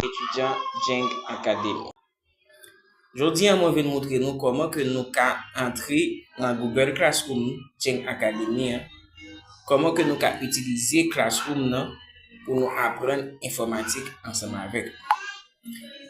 Etidyan Jeng Akademi. Jodi an mwen vin moutre nou kòman ke nou ka antre nan Google Classroom Jeng Akademi an, kòman ke nou ka itilize Classroom nan pou nou aprann enfòmatik ansanm avèk.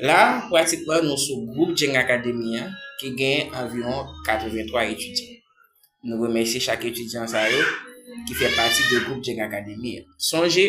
La, pratikman nou sou gwoup Jeng Akademi an ki gen anviwon 83 etidyan. Nou remèsye chak etidyan sa yo ki fè pati de gwoup Djeng Akademi an. Sonje,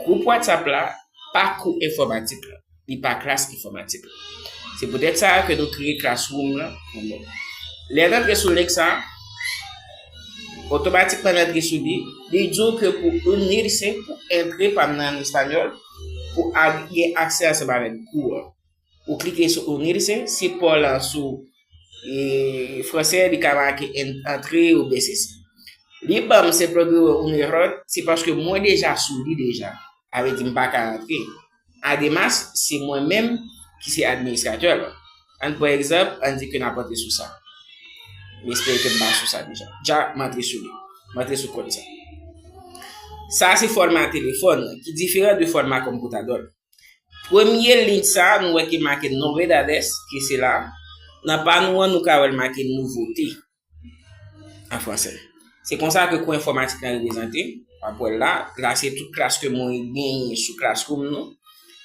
gwoup WhatsApp la pa kou enfòmatik la, li pa klas enfòmatik la. Se poutèt sa ke nou kreye Classroom lan pou nou. Lè n antre sou link sa, otomatikman n antre sou li, li di w ke pou inirse, pou antre pa nan espanyòl, pou gen aksè ansanm avèk kou an. Ou klike sou Unir se, si paw la sou e fransè li ka make antre ou byen sesi. Li banm se progre un error se paske mwen deja sou li deja. A vle di m paka antre. Ademas se mwen menm ki se administratè lan. Ann pran egzanp an di ke nap antre sou sa. M espere ke m pa sou sa deja. Ja m antre sou li. M antre sou kont sa. Sa se fòma telefòn ki diferan de fòma konpotadò l. Premye link sa a nou wè ki make novedades ki se la. Nan pa nou an nou ka wè l make nouvote an franse. Se konsa ke kou enfòmatik la reprezante. W ap wè l la. La se tout klas ke mwen genyen sou Classroom nou.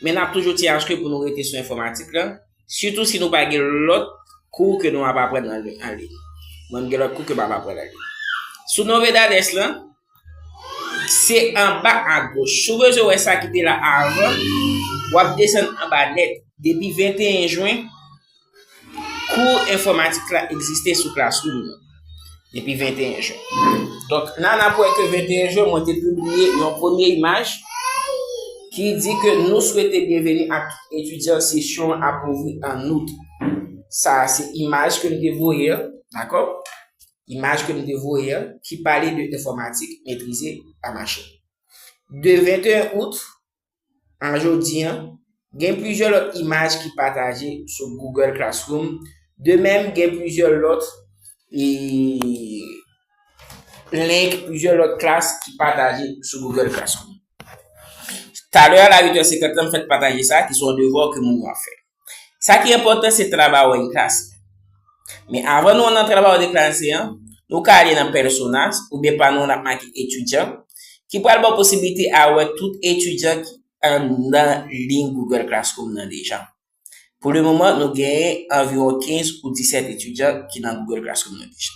Men n ap toujou ti aske pou nou rete sou enfòmatik la. Sitou si nou pa gen lòt kou ke nou ap aprann anliy. Mwen m gen lòt kou ke m ap aprann anliy. Sou novedades la. Se anba a goch. Si w bezwen wè sa ki te la avan, w ap desann anba nèt. Depi 21 jwen, kou enfòmatik la egziste sou Classroom nan. Depi 21 jwen. Donk, nan ap wè ke 21 jwen, mwen te publiye yon premye imaj ki di ke nou swete byenveni ak etidyan sesyon ap ouvri an out. Sa a se imaj ke m te voye. Dakò? imaj ke m te voye an ki pale de enfòmatik metrize pa machin. De 21 out a jodi an, gen plizyè lòt imaj ki pataje sou Google Classroom, de menm gen plizyè lòt link, plizyè lòt klas ki pataje sou Google Classroom. Talè a la 8 è 50 la m fèt pataje sa ki son devwa ke moun yo ap fè. Sa ki enpòtan se Trabajo en Clase. Men avan nou an nan Trabajo de Clase an, nou ka ale nan Personas oubyen pa nou an ap make Etidyan ki pral ba w posiblite a wè tout etidyan ki anndan liy Google Classroom nan deja. Pou le moman nou genyen anviwon 15 ou 17 etidyan ki nan Google Classroom nan deja.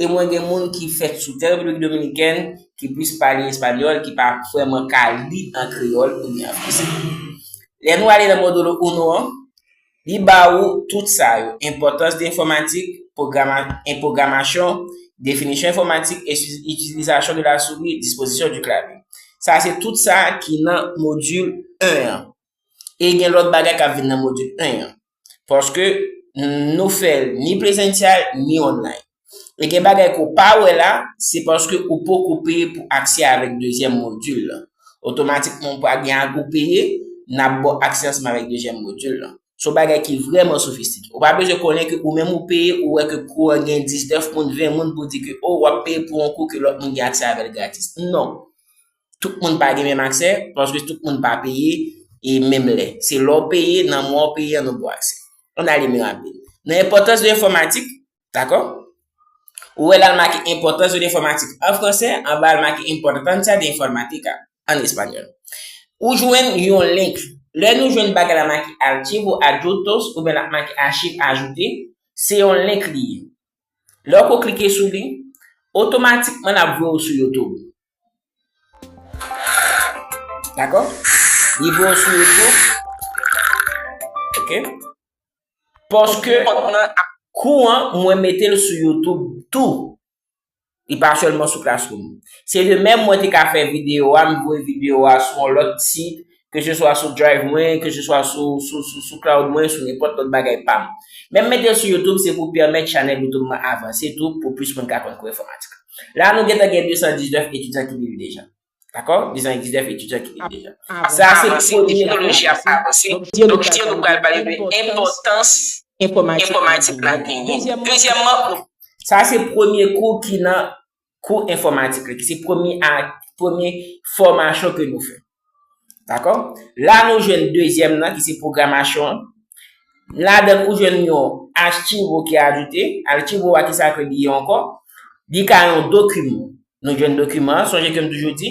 E mwen gen moun ki fèt sou tè Repiblik Dominikèn ki plis pale espanyòl ki pa vrèman ka li an kreyòl oubyen an franse. Lè nou ale nan Módulo Uno an, li ba ou tout sa yo, Importance de Informatik, en Programasyon, Définition Informatique et Utilisation de la Souris, Disposition du Clavier. Sa se tout sa ki nan Modul 1 an. E gen lòt bagay k ap vin nan Modul 1 an. Paske nou fèl ni presential ni online. E gen bagay ke ou pa wè la, se paske ou poko peye pou aksè avèk dezyèm modul lan. Otomatikman ou pral gen ak ou peye, nap baw aksè ansanm avèk dezyèm modul lan. Son bagay ki vrèman sofistike. Ou pa bezwen konnen ke ou menm ou peye, ou wè ke kou an gen 19 moun, 20 moun pou di ke oh wap peye pou yon kou ke lòt moun gen aksè avèl gratis. Non. Tout moun pa gen menm aksè, paske tout moun pa peye e menm lè. Se lè w peye, nan mwa w peye an ou gon aksè. An n ale mi rapid. Nan enpòtans de enfòmatik, dakò? Ou wè la l make enpòtans de enfòmatik an fransè, anba a l make importancia de informática an espanyòl. Ou jwenn yon link. Lè nou jwenn bagay la make archivo adjuntos oubyen l ap make achiv ajoute, se yon link li ye. Lè w ko klike sou li, otomatikman l ap voye w sou YouTube. Dako? Li bon sou yo tou? Ok. Paske kont mwen an ap kou an, mwen mete l sou YouTube tou. Li pa sèlman sou Classroom. Se de menm mwen te ka fè videyo a, m voye videyo a sou yon lòt sit, Ke se swa sou drive mwen, ke se swa sou cloud mwen, sou nenpòt lòt bagay pam. Menm metel sou youtube se pou pèmèt chanèl youtube mwen avanse tou pou plis moun ka konn kou enfòmatik. La nou gentan gen 219 etidyan ki viv deja. Dakò? 219 etidyan ki viv deja. Sa se pou kote teknoloji ap avanse. Nou ki diyo nou pral pale de enpòtans enfòmatik la genyen. Dezyèmman. Sa se premye kou ki nan kou enfòmatik li ki se premye a, premye fòmasyon ke nou fè. Dakò? La nou jwenn dezyèm nan ki se pwogramasyon an. Ladann ou jwenn yon achivo ki ajoute. Achivo a ki sa ke li ye ankò? Li ka yon dokiman. Nou jwenn dokiman an, sonje ke m toujou di,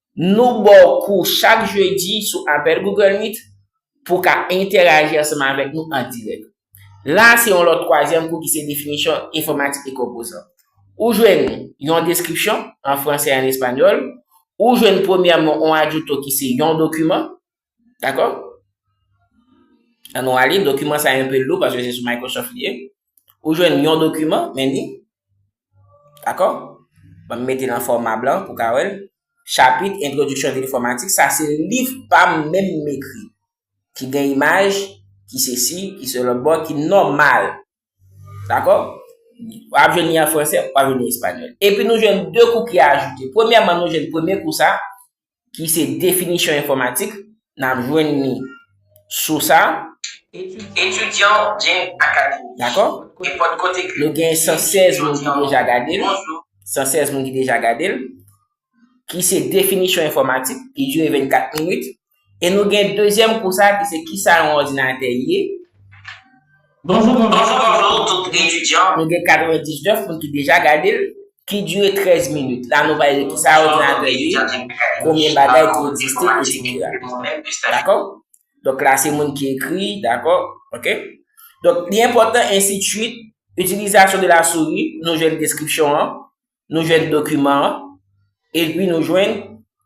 Nou ba w kou chak jedi sou apèl Google Meet pou w ka entèraji ansanm avèk nou an dirèk. La a se yon lòt twazyèm kou ki se definisyon enfòmatik e konpozan. Ou jwenn yon deskripsyon, an fransè e an espanyòl, ou jwenn premyèman yon adjouto ki se yon dokiman. Dakò? An nou ale, dokiman sa a enpe lou paske se sou Microsoft li ye. Ou jwenn yon dokiman, men li. Dakò? Mwen mete nan fòma blan pou ka wèl. Chapit Entwodiksyon de Enfòmatik, sa se liv pa m menm m ekri. Ki gen imaj, ki se si, ki se lòt bò, ki nòmal. Dakò? W ap jwenn li an fransè, w ap jwenn li an espanyòl. Epi nou jwenn 2 kou ki ajoute. Premyèman nou jwenn premye kou sa, ki se definisyon enfòmatik, n ap jwenn li sou sa a. Etidyan Jing Academy. Dakò? Nenpòt kote ke. Nou gen 116 moun ki deja gade l. 116 moun ki deja gade l. Ki se definisyon enfòmatik, ki dire 24 minit. E nou gen dezyèm kou sa a ki se kisa yon òdinatè ye. Bonjou bonjou tout etidyan. Nou gen 99 moun ki deja gade l ki dire 13 minit la nou bay kisa òdinatè ye konbyen bagay ki egziste etc. Dakò donk la se moun ki ekri dakò ok donk li enpòtan ensi t suit utilisation de la souris nou jwenn deskripsyon an Nou jwenn dokiman an, epi nou jwenn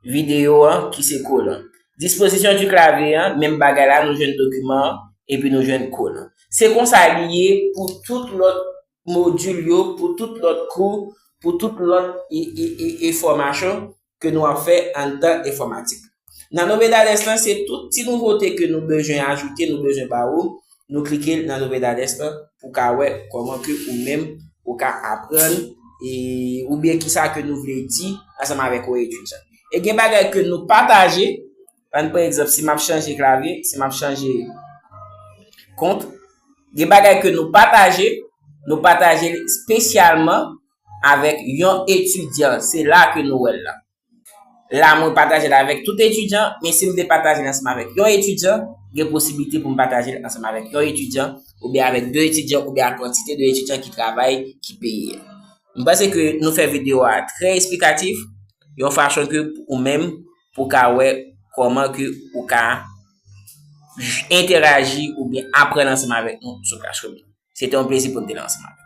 videyo an ki se kod lan. Disposition du clavier an, menm bagay la, nou jwenn dokiman an, epi nou jwenn kod lan. Se konsa li ye pou tout lòt modul yo, pou tout lòt kou, pou tout lòt e, e, e, e fòmasyon ke nou ap fè anndan enfòmatik. Nan Novedades lan se tout ti nouvote ke nou bezwen ajoute, nou bezwen ba ou, nou klike nan Novedades lan pou ka wè kòman ke ou menm ou ka aprann e oubyen kisa ke nou vle di ansanm avèk ou etid sa. E gen bagay ke nou pataje, ann pran egzanp si map chanje klavye, si map chanje kont, gen bagay ke nou pataje, nou pataje l espesyalman avèk yon etidyan, se la ke nou wèl la. La mwen patajel avèk tout etidyan, men si m te patajel ansanm avèk yon etidyan, gen posibilite pou m patajel ansanm avèk yon etidyan, oubyen avèk 2 etidyan, oubyen ak kantite de etidyan ki travay, ki peye. M panse ke nou fè video a trè esplikatif, yon fachon ke ou menm pou ka wè kòman ke ou ka entèraji oubyen aprann ansanm avèk nou sou Classroom. Se te yon plezi pou m te la ansanm avèk ou.